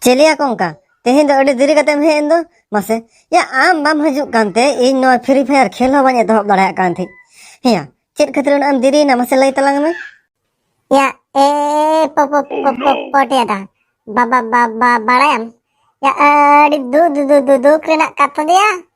ᱪᱮᱞᱤᱭᱟ ᱠᱚᱝᱠᱟ ᱛᱮᱦᱮᱧ ᱫᱚ ᱟᱹᱰᱤ ᱫᱮᱨᱤ ᱠᱟᱛᱮᱢ ᱦᱮᱡ ᱮᱱ ᱫᱚ ᱢᱟᱥᱮ ᱭᱟ ᱟᱢ ᱵᱟᱢ ᱦᱤᱡᱩᱜ ᱠᱟᱱᱛᱮ ᱤᱧ ᱱᱚᱣᱟ ᱯᱷᱨᱤ ᱯᱷᱟᱭᱟᱨ ᱠᱷᱮᱞ ᱦᱚᱸ ᱵᱟᱹᱧ ᱮᱛᱚᱦᱚᱵ ᱫᱟᱲᱮᱭᱟᱜ ᱠᱟᱱ ᱛᱟᱦᱮᱸᱫ ᱦᱮᱸᱭᱟ ᱪᱮᱫ ᱠᱷᱟᱹᱛᱤᱨ ᱩᱱᱟᱹᱜ ᱮᱢ ᱫᱮᱨᱤᱭᱮᱱᱟ ᱢᱟᱥᱮ ᱞᱟᱹᱭ ᱛᱟᱞᱟᱝ ᱢᱮ ᱭᱟ ᱮ ᱯᱚ ᱯᱚ ᱯᱚ ᱯᱚ ᱯᱚᱴᱤᱭᱟ ᱫᱟ ᱵᱟᱵᱟ ᱵᱟᱵᱟ ᱵᱟᱲᱟᱭᱟᱢ ᱭᱟ ᱟᱹᱰᱤ ᱫᱩ ᱫᱩ ᱫᱩ ᱫᱩ ᱫᱩᱠ ᱨᱮᱱᱟᱜ ᱠᱟᱛᱷᱟ ᱫᱚᱭᱟ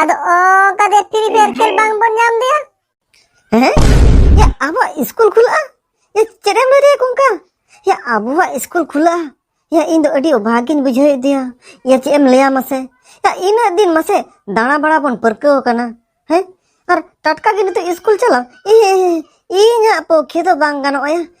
ᱟᱫᱚ ᱚᱱᱠᱟ ᱫᱮ ᱯᱷᱨᱤ ᱯᱷᱟᱭᱟᱨ ᱠᱷᱮᱞ ᱵᱟᱝ ᱵᱚᱱ ᱧᱟᱢ ᱫᱮᱭᱟ ᱦᱮᱸ ᱭᱟ ᱟᱵᱚᱣᱟᱜ ᱤᱥᱠᱩᱞ ᱠᱷᱩᱞᱟᱹᱜᱼᱟ ᱭᱟ ᱪᱮᱫ ᱮᱢ ᱞᱟᱹᱭ ᱫᱟᱭᱟ ᱠᱚᱝᱠᱟ ᱭᱟ ᱟᱵᱚᱣᱟᱜ ᱤᱥᱠᱩᱞ ᱠᱷᱩᱞᱟᱹᱜᱼᱟ ᱭᱟ ᱤᱧ ᱫᱚ ᱟᱹᱰᱤ ᱚᱵᱷᱟᱜᱤᱧ ᱵᱩᱡᱷᱟᱹᱣ ᱮᱫᱮᱭᱟ ᱭᱟ ᱪᱮᱫ ᱮᱢ ᱞᱟᱹᱭᱟ ᱢᱟᱥᱮ ᱭᱟ ᱤᱱᱟᱹᱜ ᱫᱤᱱ ᱢᱟᱥᱮ ᱫᱟᱬᱟ ᱵᱟᱲᱟ ᱵᱚᱱ ᱯᱟᱹᱨᱠᱟᱹᱣ ᱟᱠᱟᱱᱟ ᱦᱮᱸ ᱟᱨ ᱴᱟᱴᱠᱟ ᱜᱮ ᱱᱤᱛᱚᱜ ᱤᱥᱠᱩᱞ ᱪᱟᱞᱟᱣ ᱤᱧᱟᱹᱜ ᱯᱚᱠᱷᱮ ᱫᱚ ᱵᱟᱝ ᱜᱟᱱᱚᱜᱼᱟ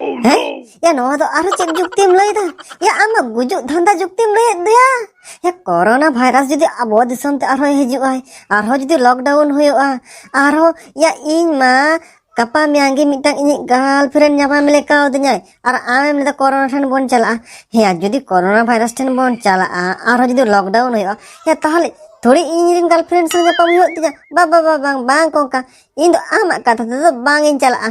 ᱦᱮᱸ ᱭᱟ ᱱᱚᱣᱟ ᱫᱚ ᱟᱨᱦᱚᱸ ᱪᱮᱫ ᱡᱩᱠᱛᱤᱢ ᱞᱟᱹᱭᱫᱟ ᱭᱟ ᱟᱢᱟᱜ ᱜᱩᱡᱩᱜ ᱫᱷᱟᱱᱫᱟ ᱡᱩᱠᱛᱤᱢ ᱞᱟᱹᱭᱮᱫ ᱫᱚᱭᱟ ᱭᱟ ᱠᱚᱨᱳᱱᱟ ᱵᱷᱟᱭᱨᱟᱥ ᱡᱩᱫᱤ ᱟᱵᱚ ᱫᱤᱥᱚᱢ ᱛᱮ ᱟᱨᱦᱚᱸ ᱦᱤᱡᱩᱜᱼᱟᱭ ᱟᱨᱦᱚᱸ ᱡᱩᱫᱤ ᱞᱚᱠᱰᱟᱣᱩᱱ ᱦᱩᱭᱩᱜᱼᱟ ᱟᱨᱦᱚᱸ ᱭᱟ ᱤᱧ ᱢᱟ ᱜᱟᱯᱟ ᱢᱮᱭᱟᱝ ᱜᱮ ᱢᱤᱫᱴᱟᱝ ᱤᱧᱤᱡ ᱜᱟᱨᱞ ᱯᱷᱨᱮᱱᱰ ᱧᱟᱯᱟᱢ ᱞᱮᱠᱟᱣ ᱫᱤᱧᱟᱭ ᱟᱨ ᱟᱢᱮᱢ ᱞᱟᱹᱭᱫᱟ ᱠᱚᱨᱳᱱᱟ ᱴᱷᱮᱱ ᱵᱚᱱ ᱪᱟᱞᱟᱜᱼᱟ ᱦᱮᱸ ᱡᱩᱫᱤ ᱠᱚᱨᱳᱱᱟ ᱵᱷᱟᱭᱨᱟᱥ ᱴᱷᱮᱱ ᱵᱚᱱ ᱪᱟᱞᱟᱜᱼᱟ ᱟᱨᱦᱚᱸ ᱡᱩᱫᱤ ᱞᱚᱠᱰᱟᱣᱩᱱ ᱦᱩᱭᱩᱜᱼᱟ ᱭᱟ ᱛᱟᱦᱚᱞᱮ ᱛᱷᱚᱲᱮ ᱤᱧ ᱨᱮᱱ ᱜᱟᱨᱞ ᱯᱷᱨᱮᱱᱰ ᱥᱟᱶ ᱧᱟᱯᱟᱢ ᱦᱩᱭᱩᱜ ᱛᱤᱧᱟ ᱵᱟ ᱵᱟ ᱵᱟ ᱵᱟᱝ ᱵᱟᱝ ᱠᱚᱝᱠᱟ ᱤᱧ ᱫᱚ ᱟᱢᱟᱜ ᱠᱟᱛᱷᱟ ᱛᱮᱫᱚ ᱵᱟᱝ ᱤᱧ ᱪᱟᱞᱟᱜᱼᱟ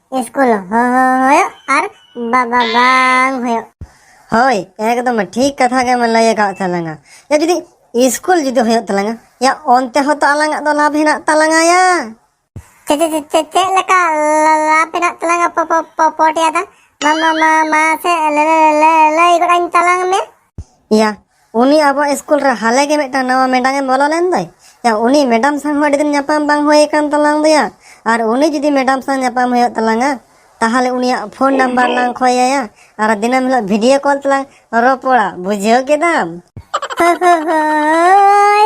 ᱤᱥᱠᱩᱞ ᱦᱩᱭᱩᱜ ᱟᱨ ᱵᱟᱵᱟ ᱵᱟᱝ ᱦᱩᱭᱩᱜ ᱦᱳᱭ ᱮᱠᱫᱚᱢ ᱴᱷᱤᱠ ᱠᱟᱛᱷᱟ ᱜᱮᱢ ᱞᱟᱹᱭ ᱟᱠᱟᱫ ᱛᱟᱞᱟᱝᱟ ᱭᱟ ᱡᱩᱫᱤ ᱤᱥᱠᱩᱞ ᱡᱩᱫᱤ ᱦᱩᱭᱩᱜ ᱛᱟᱞᱟᱝᱟ ᱭᱟ ᱚᱱᱛᱮ ᱦᱚᱸ ᱛᱚ ᱟᱞᱟᱝᱟᱜ ᱫᱚ ᱞᱟᱵᱷ ᱦᱮᱱᱟᱜ ᱛᱟᱞᱟᱝᱟ ᱭᱟ ᱪᱮ ᱪᱮ ᱪᱮ ᱪᱮ ᱪᱮᱫ ᱞᱮᱠᱟ ᱞᱟᱵᱷ ᱦᱮᱱᱟᱜ ᱛᱟᱞᱟᱝᱟ ᱯᱚ ᱯᱚ ᱯᱚ ᱯᱚᱴᱭᱟ ᱫᱟ ᱢᱟ ᱢᱟ ᱢᱟ ᱢᱟ ᱥᱮ ᱞᱟᱹᱭ ᱜᱚᱫ ᱟᱹᱧ ᱛᱟᱞᱟᱝ ᱢᱮ ᱭᱟ ᱩᱱᱤ ᱟᱵᱚᱣᱟᱜ ᱥᱠᱩᱞ ᱨᱮ ᱦᱟᱞᱮ ᱜᱮ ᱢᱤᱫᱴᱟᱝ ᱱᱟᱣᱟ ᱢᱮᱰᱟᱢ ᱮ ᱵᱚᱞᱚ ᱞᱮᱱ ᱫᱚᱭ ᱭᱟ ᱩᱱᱤ ᱢᱮᱰᱟᱢ ᱥᱟᱶ ᱦᱚᱸ ᱟᱹᱰᱤ ᱫᱤᱱ ᱧᱟᱯᱟᱢ ᱵᱟᱝ ᱦᱩᱭ ᱟᱠᱟᱱ ᱛᱟᱞᱟᱝ ᱫᱚᱭᱟ ᱟᱨ ᱩᱱᱤ ᱡᱩᱫᱤ ᱢᱮᱰᱟᱢ ᱥᱟᱶ ᱧᱟᱯᱟᱢ ᱦᱩᱭᱩᱜ ᱛᱟᱞᱟᱝᱟ ᱛᱟᱦᱚᱞᱮ ᱩᱱᱤᱭᱟᱜ ᱯᱷᱳᱱ ᱱᱟᱢᱵᱟᱨ ᱞᱟᱝ ᱠᱷᱚᱭᱟᱭᱟ ᱟᱨ ᱫᱤᱱᱟᱹᱢ ᱦᱤᱞᱳᱜ ᱵᱷᱤᱰᱤᱭᱳ ᱠᱚᱞ ᱛᱮᱞᱟᱝ ᱨᱚᱯᱚᱲᱟ ᱵᱩᱡᱷᱟᱹᱣ ᱠᱮᱫᱟᱢ ᱦᱳᱭ